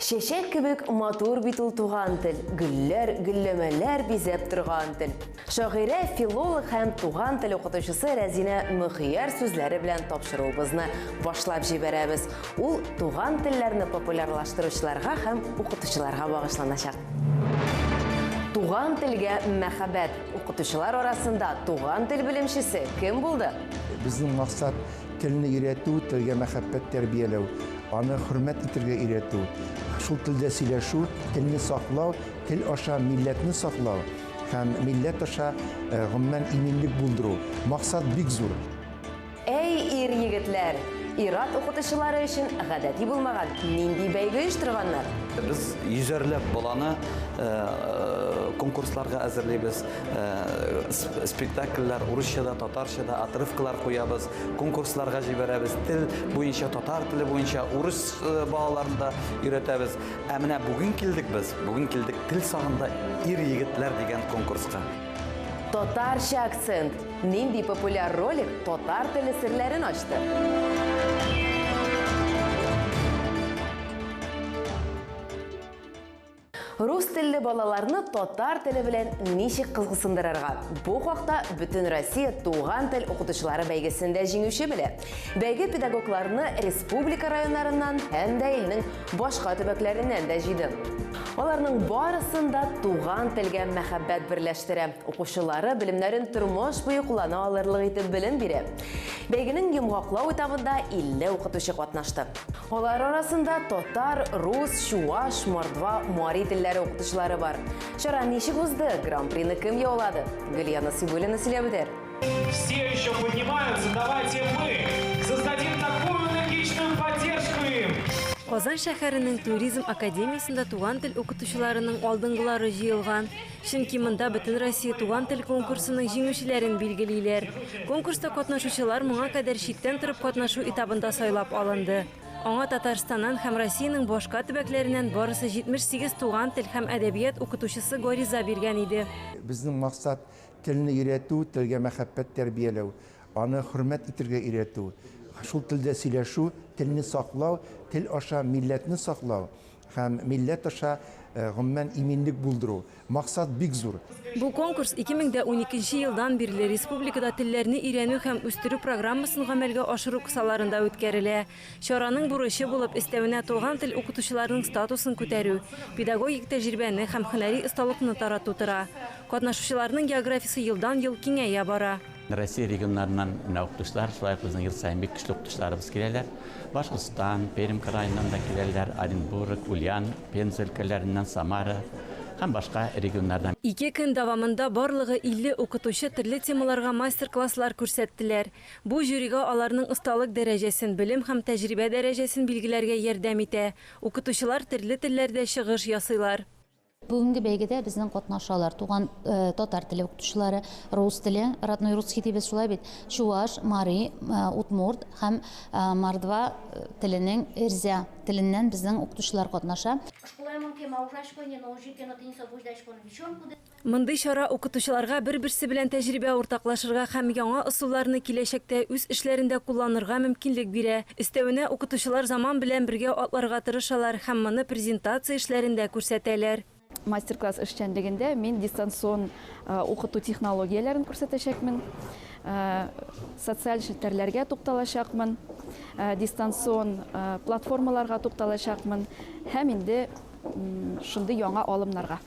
Чәчәк кебек матур бит ул туган тел, гөлләр, гөлләмәләр бизәп торган тел. Шагыйрә, филолог һәм туган тел укытучысы Рәзинә Мөхияр сүзләре белән тапшыруыбызны башлап җибәрәбез. Ул туган телләрне популярлаштыручыларга һәм укытучыларга багышланачак. Туган телгә мәхәббәт. Укытучылар арасында туган тел белемчесе кем булды? Безнең максат Телне өйрәтү, телгә мәхәббәт тәрбияләү, аны хөрмәт итергә өйрәтү, шул телдә сөйләшү, телне саклау, тел аша милләтне саклау һәм милләт аша э, гомумән иминлек булдыру. Максат бик зур. Әй, ир-егетләр! Ир-ат укытучылары өчен гадәти булмаган нинди бәйге оештырганнар? Без йөзәрләп баланы э, конкурсларга әзерлибез. Э, спектакльләр урысчада, татарчада, отрывкалар куябыз, конкурсларга җибәрәбез. Тел буенча, татар теле буенча урыс э, балаларын да өйрәтәбез. Ә менә бүген килдек без, бүген килдек тел сагында ир-егетләр дигән конкурска. Татарча акцент. Нинди популяр ролик татар теле серләрен ачты? Рус телле балаларны татар теле белән ничек кызгысындырырга? Бу хакта Бөтен Россия туган тел укытучылары бәйгесендә җиңүче белә. Бәйге педагогларны республика районнарыннан һәм дә илнең башка төбәкләреннән дә җыйды. Аларның барысын да туган телгә мәхәббәт берләштерә. Укучылары белемнәрен тормыш буе куллана алырлык итеп белем бирә. Бәйгенең йомгаклау этабында 50 укытучы катнашты. Алар арасында татар, рус, чуаш, мордва, мари телләре укытучылары бар. Чара ничек узды? Гран-прины кем яулады? Гөлия Насыйбуллина сөйләп үтәр. Все еще поднимаются, давайте мы создадим такую энергичную поддержку им. Казан шәһәренең туризм академиясендә туган тел укытучыларының алдынгылары җыелган. Чөнки монда Бөтенроссия туган тел конкурсының җиңүчеләрен билгелиләр. Конкурста катнашучылар моңа кадәр читтән торып катнашу этабында сайлап алынды. Аңа Татарстаннан һәм Россиянең башка төбәкләреннән барысы 78 туган тел һәм әдәбият укытучысы гариза биргән иде. Безнең максат, телне өйрәтү, телгә мәхәббәт тәрбияләү, аны хөрмәт итергә өйрәтү, шул телдә сөйләшү, телне саклау, тел аша милләтне саклау, Һәм милләт аша, гомумән, иминлек булдыру. Максат бик зур. Бу конкурс 2012 елдан бирле республикада телләрне өйрәнү һәм үстерү программасын гамәлгә ашыру кысаларында үткәрелә. Чараның бурычы булып өстәвенә туган тел укытучыларының статусын күтәрү, педагогик тәҗрибәне һәм һөнәри осталыкны тарату тора. Катнашучыларның географиясе елдан-ел киңәя бара. Россия регионнарыннан менә укытучылар, шулай ук безнең ел саен бик көчле укытучыларыбыз киләләр. Башкортстан, Пермь краеннан да киләләр, Оренбург, Ульян, Пенза өлкәләреннән, Самара һәм башка регионнардан. Ике көн дәвамында барлыгы 50 укытучы төрле темаларга мастер-класслар күрсәттеләр. Бу жюрига аларның осталык дәрәҗәсен, белем һәм тәҗрибә дәрәҗәсен билгеләргә ярдәм итә. Укытучылар төрле телләрдә чыгыш ясыйлар. Бүгенге бәйгедә безнең катнашалар, туган татар теле укытучылары, рус теле, родной русский дибез шулай бит, чуваш, мари, удмурт һәм мордва теленең эрзя теленнән безнең укытучылар катнаша. Мондый чара укытучыларга бер-берсе белән тәҗрибә уртаклашырга һәм яңа ысулларны киләчәктә үз эшләрендә кулланырга мөмкинлек бирә, Өстәвенә, укытучылар заман белән бергә атларга тырышалар һәм моны презентация эшләрендә күрсәтәләр. Мастер-класс эшчәнлегендә мин дистанцион укыту технологияләрен күрсәтәчәкмен, социаль челтәрләргә тукталачакмын, дистанцион платформаларга тукталачакмын һәм инде. шундый яңа алымнарга.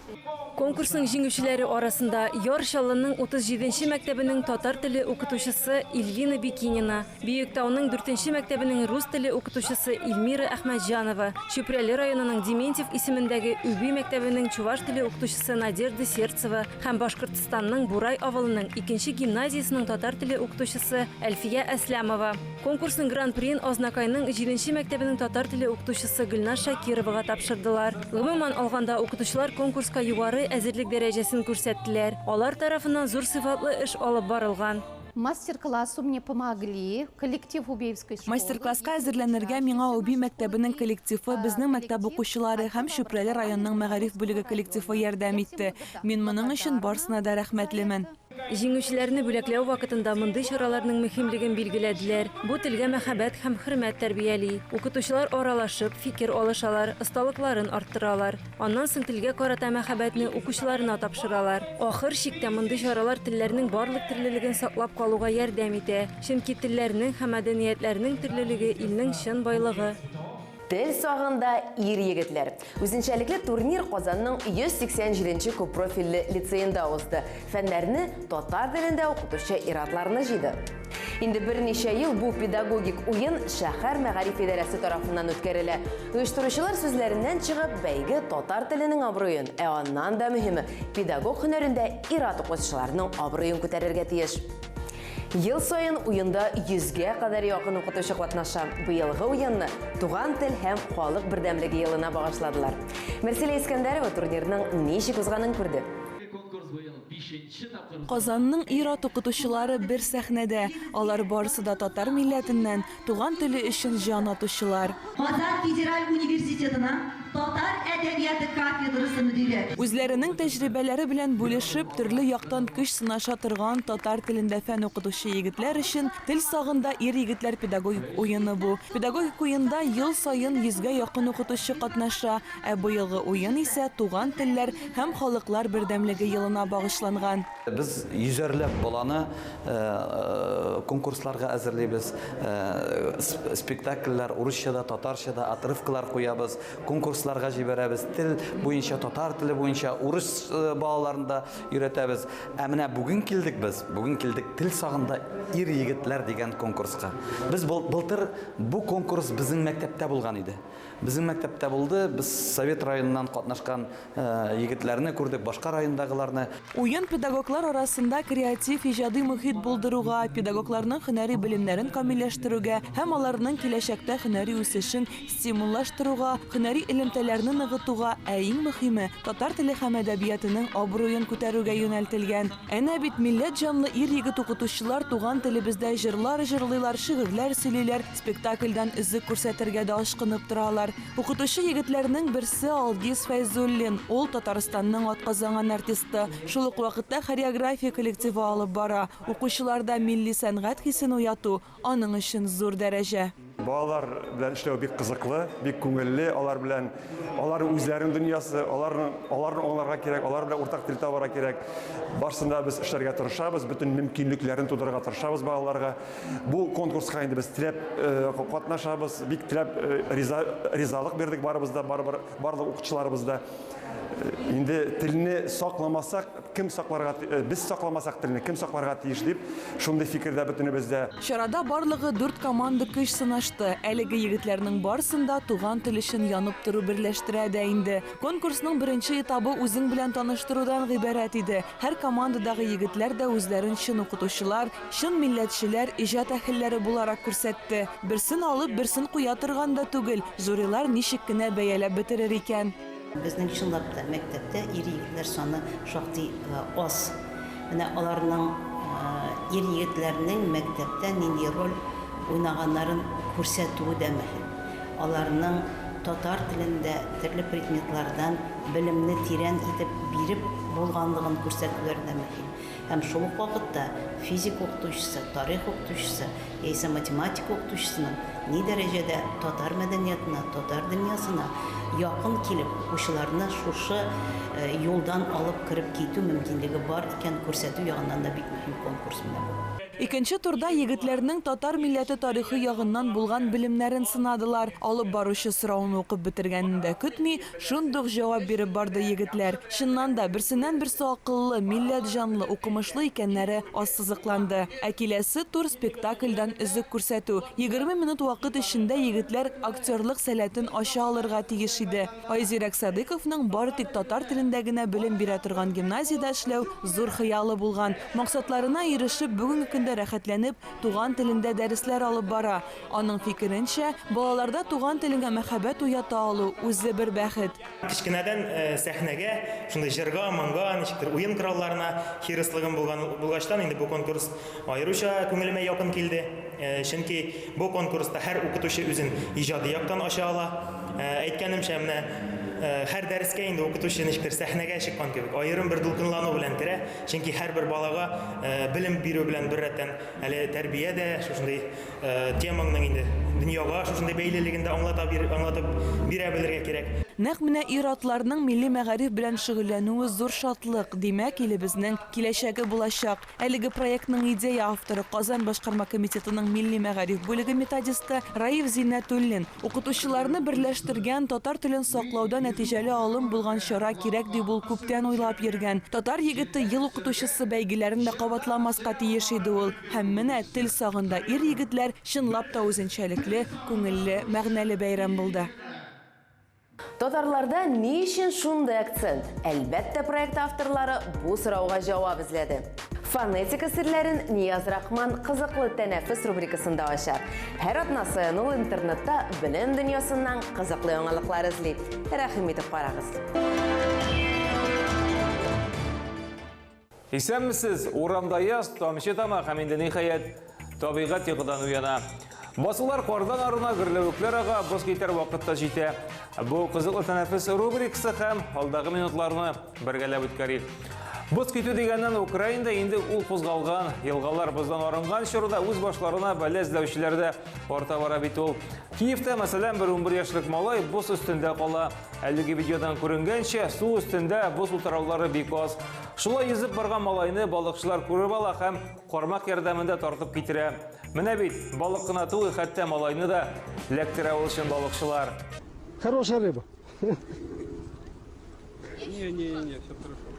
Конкурсның җиңүчеләре арасында Яр Чаллының 37 нче мәктәбенең татар теле укытучысы Ильвина Бикинина, Биектауның 4 нче мәктәбенең рус теле укытучысы Ильмира Әхмәтҗанова, Чүпрәле районының Дементьев исемендәге Үби мәктәбенең чуваш теле укытучысы Надежда Сердцева һәм Башкортстанның Бурай авылының икенче гимназиясенең татар теле укытучысы Әлфия Әсләмова. Конкурсның гран-приен Азнакайның җиденче мәктәбенең татар теле укытучысы Гөлназ Шакировага тапшырдылар. Гомумән алганда, укытучылар конкурска югары әзерлек дәрәҗәсен күрсәттеләр. Алар тарафыннан зур сыйфатлы эш алып барылган. Мастер-классу мне помогли коллектив Убеевской школы. Мастер-класска әзерләнергә миңа Уби мәктәбенең коллективы, безнең мәктәп укучылары һәм Чүпрәле районының мәгариф бүлеге коллективы ярдәм итте. Мин моның өчен барсына да рәхмәтлемен. Җиңүчеләрне бүләкләү вакытында мондый чараларның мөһимлеген билгеләделәр. Бу телгә мәхәббәт һәм хөрмәт тәрбияли. Укытучылар аралашып, фикер алышалар, осталыкларын арттыралар. Аннан соң телгә карата мәхәббәтне укучыларына тапшыралар. Ахыр чиктә мондый чаралар телләрнең барлык төрлелеген саклап калуга ярдәм итә. Чөнки телләрнең һәм мәдәниятләрнең төрлелеге, илнең чын байлыгы. Тел сагында ир-егетләр. Үзенчәлекле турнир Казанның 187 нче күппрофильле лицеенда узды. Фәннәрне татар телендә укытучы ир-атларны җыйды. Инде берничә ел бу педагогик уен шәһәр мәгариф идарәсе тарафыннан үткәрелә. Оештыручылар сүзләреннән чыгып, бәйге татар теленең абруен, ә аннан да мөһиме, педагог һөнәрендә ир-ат укытучыларның абруен күтәрергә тиеш. Ел саен уенда 100-гә кадәр якын укытучы катнаша. Быелгы уенны Туган тел һәм халык бердәмлеге елына багышладылар. Мәрсилә Искәндәрова турнирның ничек узганын күрде. Казанның ир-ат укытучылары бер сәхнәдә. Алар барысы да татар милләтеннән, Туган теле өчен җан атучылар. Казан федераль университетының татар әдәбияты кафедрасы мөдире. Үзләренең тәҗрибәләре белән бүлешеп, төрле яктан көч сынаша торган татар телендә фән укытучы егетләр өчен Тел сагында ир-егетләр педагогик уены бу. Педагогик уенда ел саен йөзгә якын укытучы катнаша, ә быелгы уен исә Туган телләр һәм халыклар бердәмлеге елына багышланган. Без йөзәрләп баланы конкурсларга әзерлибез. Спектакльләр урысчада, татарчада, отрывкалар куябыз, конкурсларга җибәрәбез. Тел буенча, татар теле буенча урыс балаларын да өйрәтәбез. Ә менә бүген килдек без, бүген килдек Тел сагында ир-егетләр дигән конкурска. Без былтыр бу конкурс безнең мәктәптә булган иде. Безнең мәктәптә булды, без Совет районыннан катнашкан Егетләрне күрдек, башка райондагыларны. Уен педагоглар арасында креатив, иҗади мохит булдыруга, педагогларның һөнәри белемнәрен камилләштерүгә һәм аларның киләчәктә һөнәри үсешен стимуллаштыруга, һөнәри элемтәләрне ныгытуга, ә иң мөхиме, татар теле һәм әдәбиятының абруен күтәрүгә юнәлтелгән. Әнә бит милләт җанлы ир-егет укытучылар туган телебездә җырлар җырлыйлар, шигырьләр сөйлиләр, спектакльдән өзек күрсәтергә дә ашкынып торалар. Укытучы егетләрнең берсе, Алгиз Фәйзуллин. Ул, Татарстанның атказанган артисты. Шул ук вакытта хореография коллективы алып бара. Укучыларда милли сәнгать хисен уяту, Аның өчен зур дәрәҗә. Балалар белән эшләү бик кызыклы, бик күңелле. Алар белән, алар үзләренең дөньясы, аларның, аларны аңларга кирәк, алар белән уртак тел табарга кирәк. Барсын да без эшләргә тырышабыз, бөтен мөмкинлекләрен тудырырга тырышабыз балаларга. Бу конкурска инде без теләп катнашабыз, бик теләп риза, ризалык бирдек барыбыз да, барыбер, барлык укытучыларыбыз да. Инде телне сакламасак, Кем сакларга, без сакламасак телне, кем сакларга тиеш дип, шундый фикердә бөтенебез дә. Чарада барлыгы дүрт команда көч сынашты. Әлеге егетләрнең барсын да туган тел өчен янып тору берләштерә дә инде. Конкурсның беренче этабы үзең белән таныштырудан гыйбарәт иде. Һәр командадагы егетләр дә үзләрен чын укытучылар, чын милләтчеләр, иҗат әһелләре буларак күрсәтте. Берсен алып, берсен куя торган да түгел, жюрилар ничек кенә бәяләп бетерер икән? Безнең чынлап та мәктәптә ир-егетләр саны шактый аз. Менә аларның ир-егетләрнең мәктәптә нинди роль уйнаганнарын күрсәтүе дә мөһим. Аларның татар телендә төрле предметлардан белемне тирән итеп биреп булганлыгын күрсәтүләре дә мөһим. һәм шул ук вакытта физика укытучысы, тарих укытучысы яисә математика укытучысының ни дәрәҗәдә татар мәдәниятына, татар дөньясына якын килеп, укучыларны шушы юлдан алып кереп китү мөмкинлеге бар икәнен күрсәтү ягыннан да бик мөһим конкурс менә бу. Икенче турда егетләрнең татар милләте тарихы ягыннан булган белемнәрен сынадылар. Алып баручы сорауны укып бетергәнен дә көтми, Шундук җавап биреп барды егетләр. Чыннан да, берсеннән-берсе акыллы, милләт җанлы, укымышлы икәннәре ассызыкланды. Ә киләсе тур, спектакльдән өзек күрсәтү. Егерме минут вакыт эчендә егетләр актерлык сәләтен ача алырга тиеш иде. Айзирәк Садыйковның бары тик татар телендә генә белем бирә торган гимназиядә эшләү зур хыялы булган. Максатларына ирешеп, бүгенге көндә рәхәтләнеп туган телендә дәресләр алып бара. Аның фикеренчә, балаларда туган телеңә мәхәббәт уята алу, үзе бер бәхет. Кечкенәдән сәхнәгә, шундый җырга, моңга, ничектер уен коралларына хирыслыгым булган булгачтан, инде бу конкурс аеруча күңелемә якын килде. Чөнки бу конкурста һәр укытучы үзен иҗади яктан ача ала. Әйткәнемчә, менә һәр дәрескә инде укытучы ничектер сәхнәгә чыккан кебек, аерым бер дулкынлану белән керә, чөнки һәрбер балага белем бирү белән беррәттән, Әле тәрбия дә шушындый темаңның инде дөньяга шушындый бәйлелеген дә аңлата бир, аңлатып бирә белергә кирәк. Нәкъ менә ир-атларның милли мәгариф белән шөгыльләнүе зур шатлык, димәк, илебезнең киләчәге булачак. Әлеге проектның идея авторы, Казан башкарма комитетының милли мәгариф бүлеге методисты Раиф Зиннәтуллин. Укытучыларны берләштергән, татар телен саклауда нәтиҗәле алым булган чара кирәк дип ул күптән уйлап йөргән. Татар егете ел укытучысы бәйгеләрен дә кабатламаска тиеш иде ул. Һәм менә тел сагында ир-егетләр чынлап та үзенчәлекле, күңелле, мәгънәле бәйрәм булды. Татарларда ни өчен шундый акцент? Әлбәттә, проект авторлары бу сорауга җавап эзләде. Фонетика серләрен Нияз Рахман кызыклы тәнәфес рубрикасында ача. Һәр атна саен ул интернетта белем дөньясыннан кызыклы яңалыклар эзли. Рәхим итеп карагыз. Исәнмесез! Урамда яз, тамчы тама һәм инде ниһаять, табигать йокыдан уяна. Басулар кардан арына, гөрләвекләр ага, боз китәр вакыт та җитә. Бу кызыклы тәнәфес рубрикасы һәм алдагы минутларны бергәләп үткәрик. Боз китү дигәннән Украинада инде ул кузгалган, елгалар боздан арынган чорда үз башларына бәлә эзләүчеләр дә арта бара бит ул. Киевта, мәсәлән, бер 11 яшьлек малай боз өстендә кала. Әлеге видеодан күренгәнчә, су өстендә боз утыраулары бик аз. Шулай йөзеп барган малайны балыкчылар күреп ала һәм кармак ярдәмендә тартып китерә. Менә бит, балык кына түгел, хәтта малайны да ләктерә ул чын балыкчылар. Хорошая рыба. Не, не, не, все хорошо.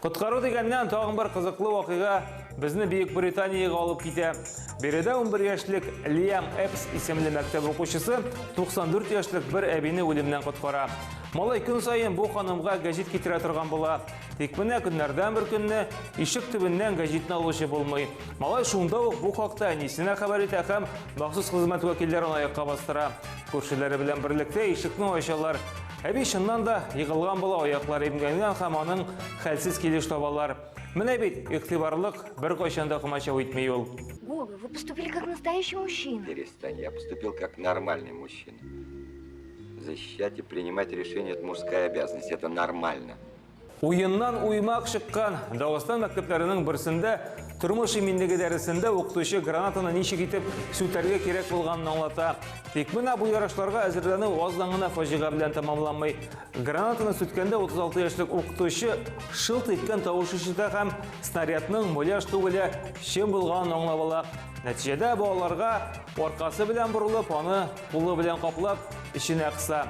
Коткару дигәннән тагын бер кызыклы вакыйга Безне Бөек Британиягә алып китә. Биредә 11 яшьлек Лиам Эпс исемле мәктәп укучысы 94 яшьлек бер әбине үлемнән коткара. Малай көн саен бу ханымга гәҗит китерә торган була. Тик менә көннәрдән бер көнне ишек төбеннән гәҗитне алучы булмый. Малай шунда ук бу хакта әнисенә хәбәр итә һәм махсус хезмәт вәкилләрен аякка бастыра. Күршеләре белән берлектә ишекне ачалар. Әби чыннан да егылган була, аяклары имгәнгән һәм аның хәлсез килеш табалар. Менә бит, игътибарлык, беркайчан да комачау итми ул. Вова, вы поступили как настоящий мужчина. Перестань, я поступил как нормальный мужчина. Защищать и принимать решения – это мужская обязанность, это нормально. Уеннан уймак чыккан Дагыстан мәктәпләренең берсендә тормыш иминлеге дәресендә укытучы гранатаны ничек итеп сүтәргә кирәк булганын аңлата. Тик менә бу ярышларга әзерләнү аздан гына фаҗига белән тәмамланмый. Гранатаны сүткәндә 36 яшьлек укытучы шылт иткән тавыш ишетә һәм снарядның муляж түгеле чын булганын аңлап ала. Нәтиҗәдә балаларга аркасы белән борылып, аны кулы белән каплап, эченә кыса.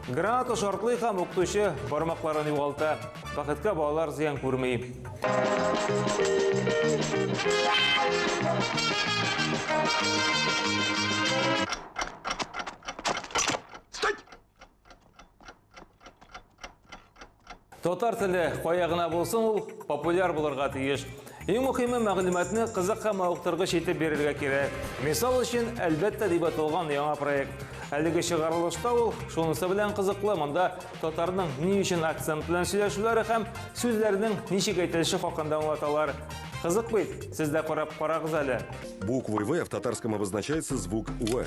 Граната шартлый һәм укытучы бармакларын югалта. Бәхеткә балалар зыян күрми. Стать! Татар теле кая гына булсын ул популяр булырга тиеш. Иң мөхиме мәгълүматны кызык һәм мавыктыргыч итеп бирергә кирәк. Мисал өчен, әлбәттә дип аталган яңа проект. Әлеге чыгарылышта ул шунысы белән кызыклы, монда татарның ни өчен акцент белән сөйләшүләре һәм сүзләрнең ничек әйтелеше хакында аңлаталар. Кызык бит, сез дә карап карагыз әле. Буквой В в татарском обозначается звук В.